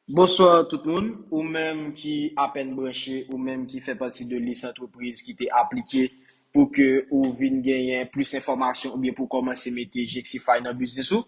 Bonswa tout moun, ou menm ki apèn branche, ou menm ki fè pati de lis antrepriz ki te aplike pou ke ou vin genyen plis enfòmasyon oubyen pou w kòmanse mete Jexify nan biznis ou,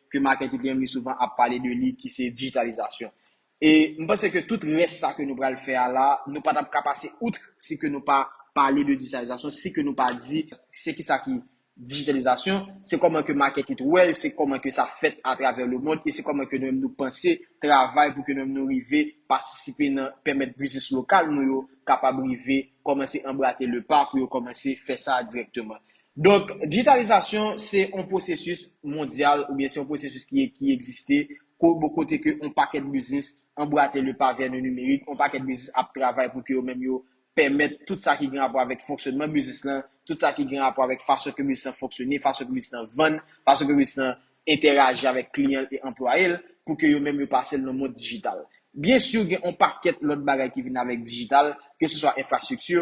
ke Martin te byen souvan ap pale de li ki se dijitalizasyon. E m panse ke tout rès sa ke nou pral fè a la, nou pa t ap ka pase outre si ke nou pa pale de dijitalizasyon, si ke nou pa di se ki sa ki dijitalizasyon, se kòman ke Martin te wè l, se kòman ke sa fèt atravè le mond e se kòman ke nou menm nou panse travay pou ke nou menm nou rive patisipe nan pèmèt biznis lokal nou yo kapab rive kòmanse anbrate le pa pou yo kòmanse fè sa dirèkteman. Donk, dijitalizasyon se yon pwosesis mondyal oubyen se yon pwosesis ki egziste kote ke yon pakèt biznis anbrate le pa vè le nimerik, yon pakèt biznis ap travay pou ke yo menm yo pèmèt tout sa ki gen rapò avèk fonksyònman biznis lan, tout sa ki gen rapò avèk fason ke biznis lan fonksyone, fason ke biznis lan vann, fason ke biznis lan entèraji avèk kliyan l e anplwaye l, pou ke yo menm yo pase l nan mond dijital. Byen si gen yon pakèt lòt bagay ki vin avèk dijital, ke se swa enfrastrikti,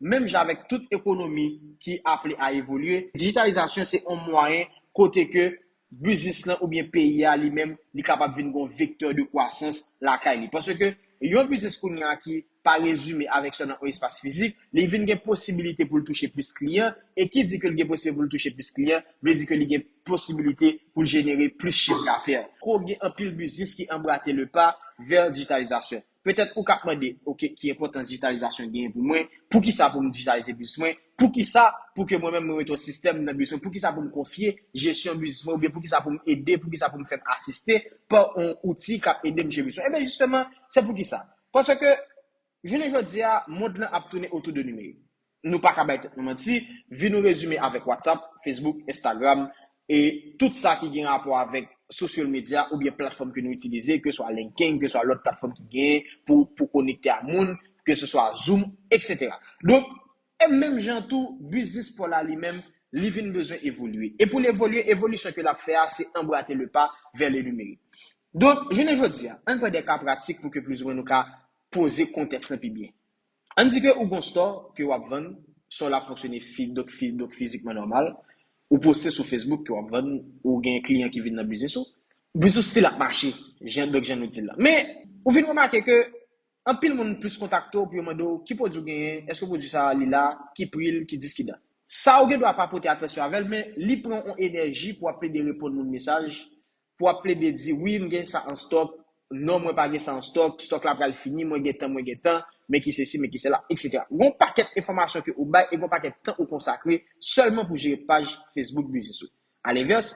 menm jan avèk tout ekonomi ki aple a evolye, dijitalizasyon se yon mwayen kote ke biznis lan oubyen peyi a li menm li kapab vin gen yon vektè de kwasans lakay li. Paske yon biznis kounye a ki pa rezime avèk sèlman yon espas fizik, li vin gen posibilite pou l touche plis kliyan, e ki di ke l gen posiblite pou l touche plis kliyan, vle di ke li gen posibilite pou l jenere plis chif dafè. Ko gen anpil biznis ki anbrate le pa vè dijitalizasyon. Petèt ou k ap mande, ok, ki enpòtans dijitalizasyon genyen pou mwen? Poukisa pou m dijitalize biznis mwen? Poukisa pou ke mwen menm mwen mete yon sistèm nan biznis mwen? Poukisa pou m konfye jesyon biznis mwen oubyen poukisa pou m ede, poukisa pou m fè m asiste pa yon outi k ap ede m jere biznis mwen? Enben jisteman, se poukisa? Paske jounen jodi a, mond lan ap tounen otou de nimerik. Nou pa ka bay tèt nou manti, vi nou rezime avèk WhatsApp, Facebook, Instagram e tout sa ki gen rapò avèk social media oubyen platfòm ke nou itilize, ke swa LinkedIn, ke swa lòt platfòm ki genyen pou pou konekte a moun, ke se swa Zoom, etc. Donk, e menm jan tou, biznis Paul la li menm, li vin bezwen evolye. E pou l evolye, evolisyon ke l ap fè a, se embrater le pas vers le numérique. Donk, jounen jodi a, ann pran de ka pratik pou ke plis ou mwen nou ka poze kontèks lan pi byen. Ann di ke ou gon stò ke wap vann, stò la fonksyone fi donk fi donk fizikman nòmal, ou poste sou Facebook ke wap vann, ou gen kliyan ki vin nan biznis ou, biznis ou stil ap mache jan donk jan nou dil la. Men, ou vin remake ke anpil moun plis kontakte w pou yo mande w ki pwodwi w genyen, eske pwodwi sa li la, ki pri l, ki dis ki dat. Sa ou gen dwa pa pote atansyon avè l, men li pran on enèji pou ap plede reponn moun mesaj Pou ap plede di wi m gen sa an stòk, non mwen pa gen sa an stòk, stòk la pral fini, mwen gen tan, mwen gen tan, men ki sesi, men ki sela, etc. Gon pakèt enfòmasyon ke ou bay e gon pakèt tan ou konsakre sèlman pou jere paj Facebook biznis ou. Alenvès,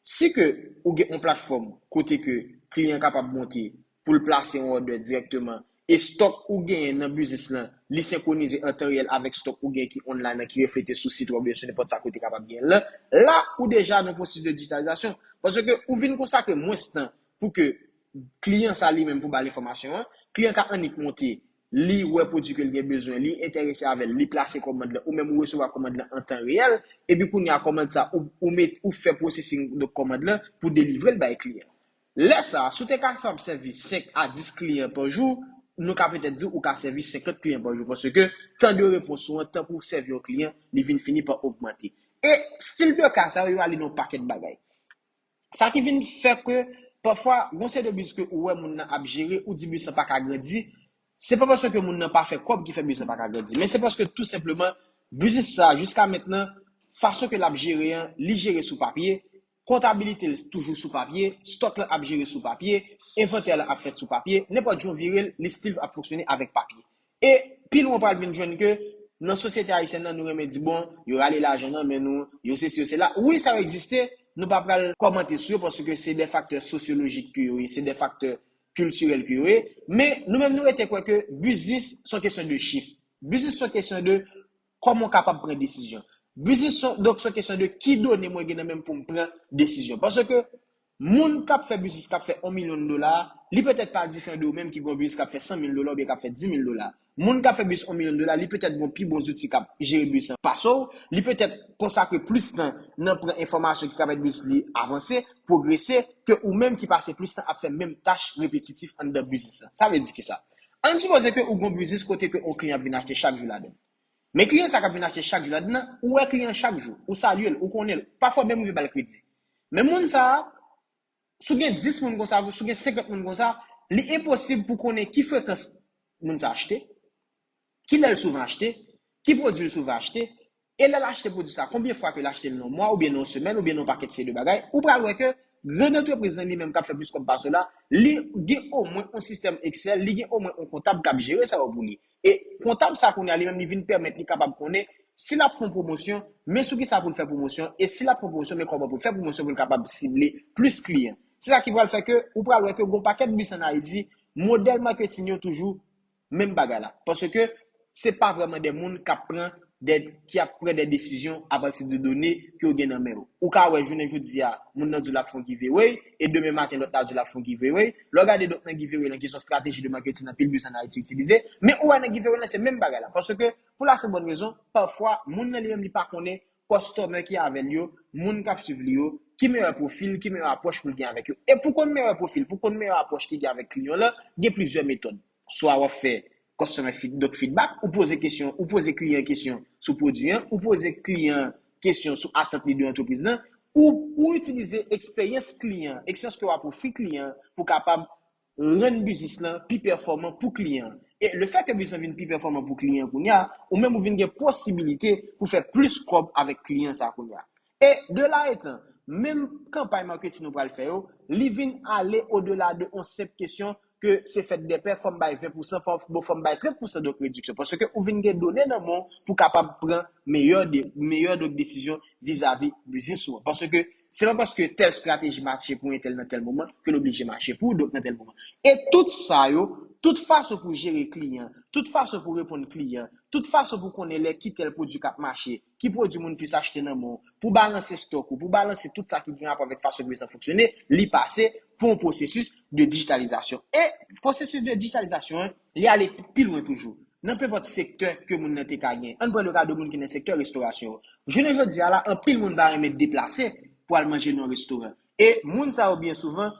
si ke ou gen on platfòm kote ke kliyan kapab monte, pou l plase yon òdè dirèkteman e stòk ou genyen nan biznis lan li senkwonize an tan reyèl avèk stòk ou genyen ki online lan ki reflete sou sit wèb ou yo sou nenpòt sa ke ou te kapab genyen l lan, la ou deja nan yon pwosesis de dijitalizasyon paske ou vin konsakre mwens tan pou ke kliyan sa li menm pou ba l enfòmasyon an, kliyan ka annik monte li wè pwodui ke l gen bezwen, li enterese avè l, li plase kòmand lan ou menm ou resevwa kòmand lan an tan reyèl epi kounye a kòmand sa ou ou met ou fè pwosesing de kòmand lan pou delivre l bay kliyan an. Lè sa a, si w te kapab sèvi 5 a 10 kliyan pa jou, nou ka petèt di ou ka sèvi 50 kliyan pa jou paske tan de repons ou an, tan pou w sèvi yon kliyan, li vin fini pa ogmante. E stil de ka sa yo, yo ale nan yon pakèt bagay. Sa ki vin fè ke pafwa gon seri de biznis ke ou wè moun nan ap jere, ou di biznis lan pa ka grandi, se pa paske moun nan pa fè kòb ki fè biznis lan pa ka grandi, men se paske tou senpleman biznis sa jiska mentnan fason ke l ap jere an, li jere sou papye, Kontabilite l toujou sou papye, stòk lan ap jere sou papye, envantè lan ap fèt sou papye, nenpòt jan w vire l, li stil ap fonksyone avèk papye. E, pi lwen w pral vin jwenn ke nan sosyete ayisyèn nan nou renmen di bon, yo rale lajan nan men nou, yo sesi yo sela. Wi sa yo egziste, nou pa pral kòmante sou yo paske se de faktè sosyolojik ke yo ye, se de faktè kiltirèl ke yo ye. Men, nou menm nou rete kwè ke biznis s on kesyon de chif. Biznis s on kesyon de Kòman w kapab pran desizyon? Biznis s on, donk s on kesyon de ki done mwen gen nan men m pou m pran desizyon. Paske moun k ap fè biznis k ap fè 1 milyon dola a, li petèt pa diferan de ou menm ki gen yon biznis k ap fè 100 mil dola oubyen k ap fè 10 mil dola. Moun k ap fè biznis 1 milyon dola, li petèt gen yon pi bon zouti k ap jere biznis lan pase w, li petèt konsakre plis tan nan pran enfòmasyon ki ka pèmèt biznis li avanse, pwogrese, ke ou menm ki pase plis tan ap fè menm tach repetitif anndan biznis lan. Sa vle di kisa? Ann sipoze ke ou gen yon biznis kote ke yon kliyan ap vin achte chak jou ladann. Men kliyan sa kap vin achte chak jou ladann nan, ou wè kliyan an chak jou, ou salye l, ou konnen l, pafwa ou menm rive ba l kredi. Men moun sa a, si w gen 10 moun konsa, si w gen 50 moun konsa, li enposib pou konnen ki frekans moun sa a achte, Ki lè l souvan achte? Ki pwodui l souvan achte? E lè l achte pwodui sa, konbyen fwa ke l achte l nan yon mwa oubyen nan yon semèn oubyen nan yon pakèt seri de bagay? Ou pral wè ke grann antrepriz lan li menm k ap fè plis kòb pase w la, li gen omwen yon sistèm Excel, li gen omwen yon kontab k ap jere sa yo pou li. E kontab sa kounye a li menm li vin pèmèt li kapab konnen si l ap fè yon pwomosyon, men sou kisa pou l fè pwomosyon, e si l ap fè yon pwomosyon, men kòman pou l fè pwomosyon pou l kapab sible plis kliyan. Se sa ki pral fè ke ou pral wè ke gen yon pakèt biznis an Ayiti, modèl maketing yo toujou menm bagay la. Paske se pa vrèman de moun k ap pran de, ki ap pran de desizyon apati de done ke w gen nan men w. Ou ka wè jounen jodi a, moun nan di w l ap fè yon giveaway, e demen maten lòt la di w l ap fè yon giveaway. Lè w gade donk nan giveaway lan ki s on strateji de marketing anpil biznis an Ayiti itilize, men ou wè nan giveaway lan se menm bagay la. Paske pou la senp bòn rezon, pafwa moun nan li menm li pa konnen kòstòmè ki avè l yo, moun k ap suiv li yo, ki meyè pwofil, ki meyè apwòch pou l gen avèk yo. E pou konn meyè pwofil, pou konn meyè apwòch ki gen avèk kliyan w lan, gen plizyè metòd. Swa w ap fè kòstòmè fid, donk fidbak, ou poze kesyon, ou poze kliyan kesyon sou pwodui an, ou poze kliyan an kesyon sou atant li de antrepriz lan, ou itilize eksperyans kliyan an, eksperyans ke w ap ofri kliyan an pou kapab rann biznis lan pi pèfòman pou kliyan an. E le fè ke biznis lan vin pi pèfòman pou kliyan an kounye a, ou menm ou vin gen posibilite pou fè plis kòb avèk kliyan sa kounye a. E de la etan, menm kanpay marketing nou pral fè yo, li vin ale o de la de on senp kesyon ke se fèt dè pè fòm bay 20 pousan fò bon fòm bay 30 pousan donk rediksyon paske ou vin gen done nan men w pou kapab pran meyè meyè donk desizyon vizavi biznis ou an paske Se pa paske tèl strateji mache pou entèl nan tèl moman ke l oblije mache pou dot nan tèl moman. E tout sa yo, tout fason pou jere kliyan, tout fason pou reponn kliyan, tout fason pou konnen lè ki tèl pwodui k ap mache, ki pwodui moun plis achte nan men w, pou balanse stòk ou, pou balanse tout sa ki gen rapò avèk fason biznis lan fonksyone, li pase pou yon pwosesis de dijitalizasyon. E pwosesis de dijitalizasyon an, Li ale pi lwen toujou. Nan penpòt sektè ke moun nan te ka gen. Ann pran le ka de moun ki nan sektè restorasyon an. Jounen jodi a la, anpil moun pa renmen deplase pou al manje nan yon restoran. E moun sa yo byen souvan,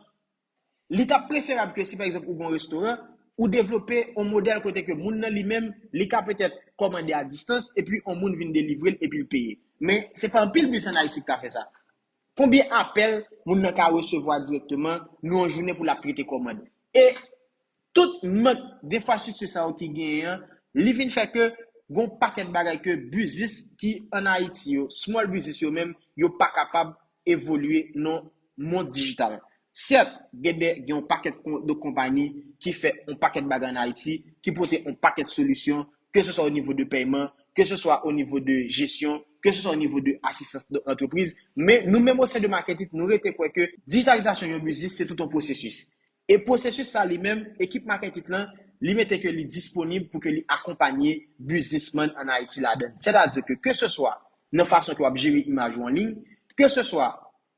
li ta preferab ke si pa egzanp ou gen yon restoran, ou devlope yon modèl kote ke moun nan li menm, li ka petèt kòmande a distans epi yon moun vin delivre l epi l peye. Men, se pa anpil bis ann Ayiti ki ka fè sa. Konbyen apèl moun nan ka resevwa dirèkteman nan yon jounen pou l ap trete kòmand? E tout mank denfrastrikti sa yo ki genyen an, li vin fè ke gen yon pakèt bagay ke biznis ki an Ayiti yo, small biznis yo menm, yo pa kapab evolye nan mond dijital. Sèt, gen de, gen yon pakèt de konpani ki fè yon pakèt bagay an Ayiti, ki pote yon pakèt solisyon, ke se swa o nivo de pèyman, ke se swa o nivo de jesyon, ke se swa o nivo de asistans de antrepriz. Men, nou menm o sen de Marketip, nou rete kwè ke dijitalizasyon yon biznis se tout yon pwosesis. E pwosesis sa li menm, ekip Marketip lan, li mete ke li disponib pou ke li akonpanye biznisman an Ayiti ladann. Sètadi ke, ke se swa nan fason ke w ap jere imaj ou an liy, ke se swa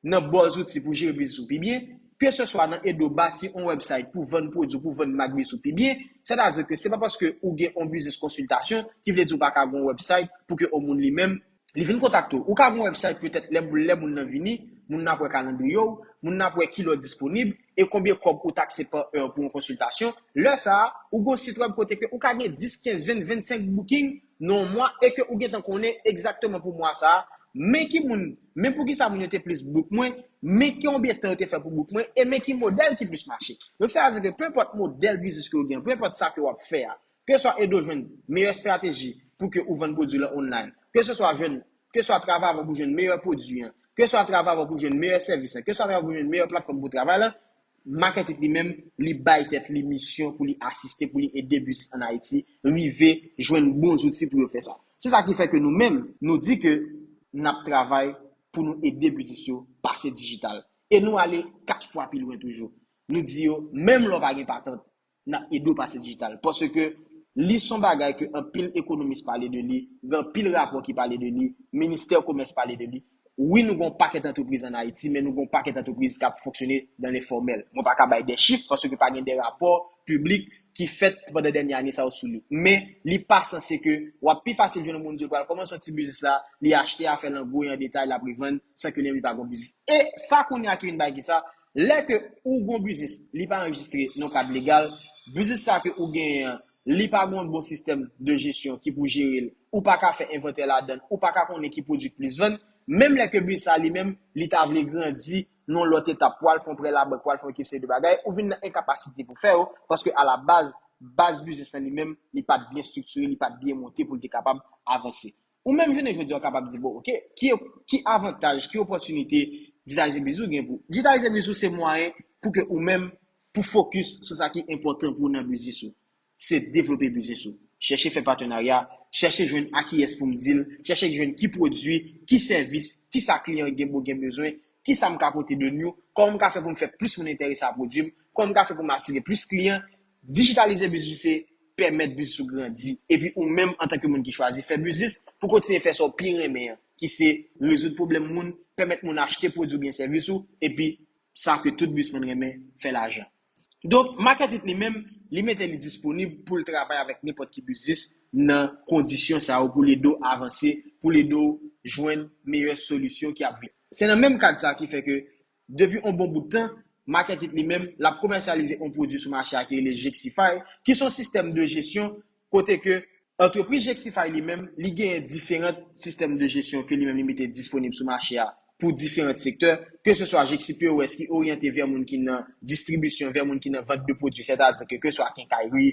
nan bon zouti pou jere biznis ou pi byen, ke se swa nan ede w bati on wèbsayt pou vann pwodwi w, pou vann mak biznis ou pi byen, sètadi ke se pa paske ou gen on biznis konsiltasyon ki vle di ou pa ka gen on wèbsayt pou ke on moun li menm, li vin kontakte w. Ou ka gen on wèbsayt petèt lè lè moun nan vini, moun nan ap wè kalandriye w, moun nan ap wè ki lè w disponib e konbyen kòb ou takse pa è pou on konsiltasyon, lè sa a, ou gen on sitwèb kote ke ou ka gen 10, 15, 20, 25 booking, nan yon mwa e ke ou gentan konnen egzakteman pou mwa sa a, men ki moun, men pou ki sa moun yo te plis book mwen, men konbyen tan yo te fè pou book mwen, e men ki modèl ki plis mache. Donk sa vle di ke pe enpòt modèl biznis ke ou gen an, pe enpòt sa ke wap fè a, ke swa ede w jwenn meyè estrateji pou ke ou vann pwodwi lan online, ke se swa jwenn, ke swa travay avèk ou jwenn meyè pwodwi an, ke swa travay avèk ou jwenn meyè sèvis lan, ke swa travay avèk ou jwenn meyè platfòm pou travay lan, Market It li menm, li bay tèt li misyon pou li asiste, pou li ede business an Ayiti rive jwenn bon zouti pou yo fè sa. Se sa ki fè ke nou menm, nou di ke n ap travay pou nou ede business yo pase dijital. E nou ale 4 fwa pi lwen toujou. Nou di yo, menm lè w pa gen patant, N ap ede w pase dijital. Paske li son bagay ke anpil ekonomis pale de li, gen anpil rapò ki pale de li, ministè komès pale de li. Wi nou gen yon pakèt antrepriz an Ayiti men nou gen yon pakèt antrepriz k ap fonksyone dan le fòmèl. Mwen pa ka bay de chif paske pa gen de rapò piblik ki fèt pandan dènye ane sa yo sou li. Men li pa sanse ke w ap pi fasil jwenn yon moun di l pral kòmanse yon ti biznis la, li achte afè l an gwo e an detay l ap revann san ke li menm li pa gen yon biznis. E sa kounye a ki vin bay kisa? Lè ke ou gon biznis li pa anrejistre nan kad legal, biznis sa ke ou genyen an li pa gon bon sistèm de jesyon ki pou jerel, ou pa ka fè envantè ladann, ou pa ka konnen ki pwodwi k plis vann, menm lè ke biznis sa li menm li ta vle grandi nan lòt etap pou al fè yon prè labank, pou al fè yon ekip seri de bagay, ou vin nan enkapasite pou fè yo, paske a la baz, baz biznis lan li menm li pat byen striktire, li pat byen monte pou l te kapab avanse. Ou menm jounen jodi a ou kapab di bon ok, ki ki avantaj, ki opòtinite Digitalize Bizou gen pou Digitalize Bizou se mwayen pou ke ou menm pou fokis sou sa ki enpòtan pou ou nan biznis ou. Se devlope biznis ou. Chèche fè patenarya, chèche jwenn a kiyès pou m di l, chèche jwenn ki pwodui, ki sèvis, ki sa kliyan gen bo gen bezwen, ki sa m ka pote de new, kòman m ka fè pou m fè plis moun enterese a pwodui m, kòman m ka fè pou m atire plis kliyan, Dijitalize biznis se pèmèt biznis ou grandi epi ou menm antanke moun ki chwazi fè biznis pou kontinye fè sa w pi renmen an ki se rezoud pwoblèm moun, pèmèt moun achte pwodwi oubyen sèvis ou epi sa ke tout bizsmann renmen, fè lajan. Donk, Market It li menm, li mete li disponib pou l travay avèk nenpòt ki biznis nan kondisyon sa yo pou l ede w avanse, pou l ede w jwenn meyè solisyon ki ap vini. Se nan menm kad sa ki fè ke Depi on bon bout tan, Market It li menm, lap komèsyalize on pwodui sou mache a ki rele Jexify, ki son sistèm de jesyon kote ke antrepriz Jexify li menm, li genyen diferant sistèm de jesyon ke li menm li mete disponib sou mache a pou diferant sektè, ke se swa Jexipos ki oryante vè moun ki nan distribisyon, vè moun ki nan vant de pwodui, sètadi ke ke swa kenkayri,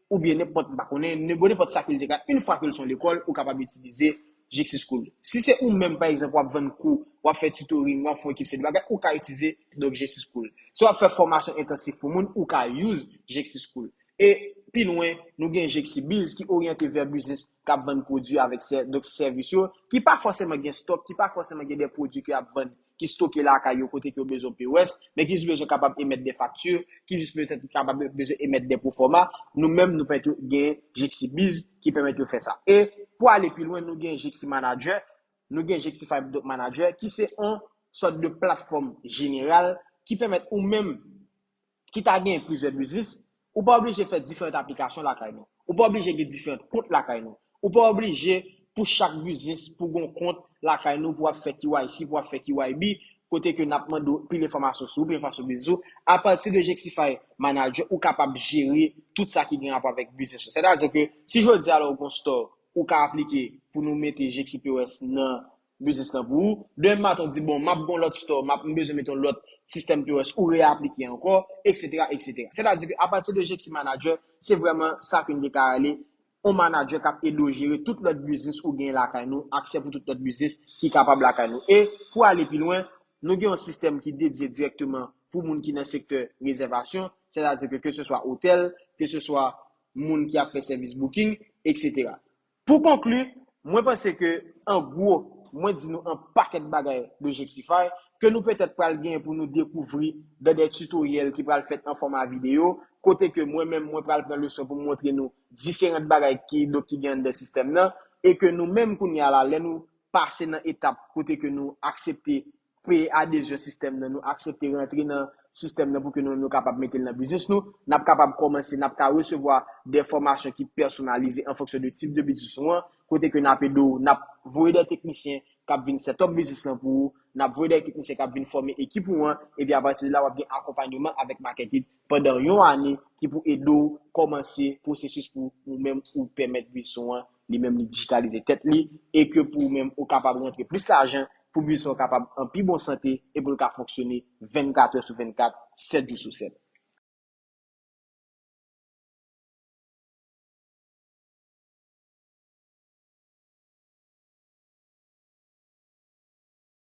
oubyen nenpòt, m pa konnen, bon nenpòt sa ke l te ka, in fwa ke l son lekòl, ou kapab itilize Jixi School. Si se ou menm, pa egzanp, w ap vann kou, w ap fè tutoring, w ap fè yon ekip seri de bagay, ou ka itize donk Jixi School. Si w ap fè fòmasyon entansif pou moun, ou ka use Jixi School. E pi lwen, nou gen Jixi Biz ki oryante vè biznis k ap vann pwodui avèk sè, donk sèvis yo, ki pa fòseman gen stock, ki pa fòseman gen de pwodui ke y ap vann ki stoke lakay yo kote ke yo bezwen POS, men ki jis bezwen kapab emèt de fakti, ki jis petèt kapab bezwen emèt de pwofòma, nou menm nou pèmèt yo gen Jxibizz ki pèmèt yo fè sa. E pou ale pi lwen nou gen Jximanager, nou gen Jxify Doc Manager ki se yon sòt de platfòm jeneral ki pèmèt ou menm ki ta genyen plizyè biznis, ou pa oblije fè diferant aplikasyon lakay nou. Ou pa oblije gen diferant kont lakay nou. Ou pa oblije pou chak biznis pou gon kont lakay nou pou ap fè KYC, pou ap fè KYB, kote ke nap mande w pil enfòmasyon sou ou, pil enfòmasyon sou biznis ou. A pati de Jektify Manager, ou kapab jere tout sa ki gen rapò avèk biznis ou. Sètadi ke si jodi a la ou gon store, ou ka aplike pou nou mete Jekti POS nan biznis lan pou ou. Demen maten w di bon map gen yon lòt store, map m bezwen mete yon lòt sistèm POS, ou reaplike ankò, eksetera, eksetera. Sètadi ke apati de Jèksè Manadjè, se vrèman sa ke n te ka rele yon manadjè kap ede w jere tout lòt biznis ou genyen lakay nou, aksè pou tout lòt biznis ki kapab lakay nou. E pou ale pi lwen, nou gen yon sistèm ki dedye dirèkteman pou moun ki nan sektè rezèvasyon, sètadi ke keseswa otèl, keseswa moun ki ap fè sèvis booking, eksetera. Pou konkli, mwen panse ke an gwo, mwen di nou an pakèt bagay de Jexify, ke nou petèt pral gen pou nou dekouvri dan dè tutoriel ki pral fèt an fòma video, kote ke mwen menm mwen pral pran leson pou m montre nou diferant bagay ki donk ki gen an dè sistèm nan, e ke nou menm kounye a la lè nou pase nan etap kote ke nou aksepte peye adezyon sistèm nan, nou aksepte rantre nan sistèm nan pou ke nou menm nou kapab mete l nan biznis nou, n ap kapab kòmanse, n ap ka resevwa dè fòmasyon ki pèsonalize an fonksyon de tip de biznis ou an, kote ke n ap ede w, n ap voye dè teknisyen k ap vin sètòp biznis lan pou ou, n ap voye dè teknisyen k ap vin fòme ekip ou an, epi apati de la w ap gen akonpanyoman avèk Market It pandan yon ane ki pou ede w kòmanse pwosesis pou ou menm ou pèmèt buisson an li menm li dijitalize tèt li e ke pou ou menm ou kapab rantre plis lajan pou buisson an kapab an pi bon sante e pou l ka fonksyone 24 è sou 24, 7 jou sou 7.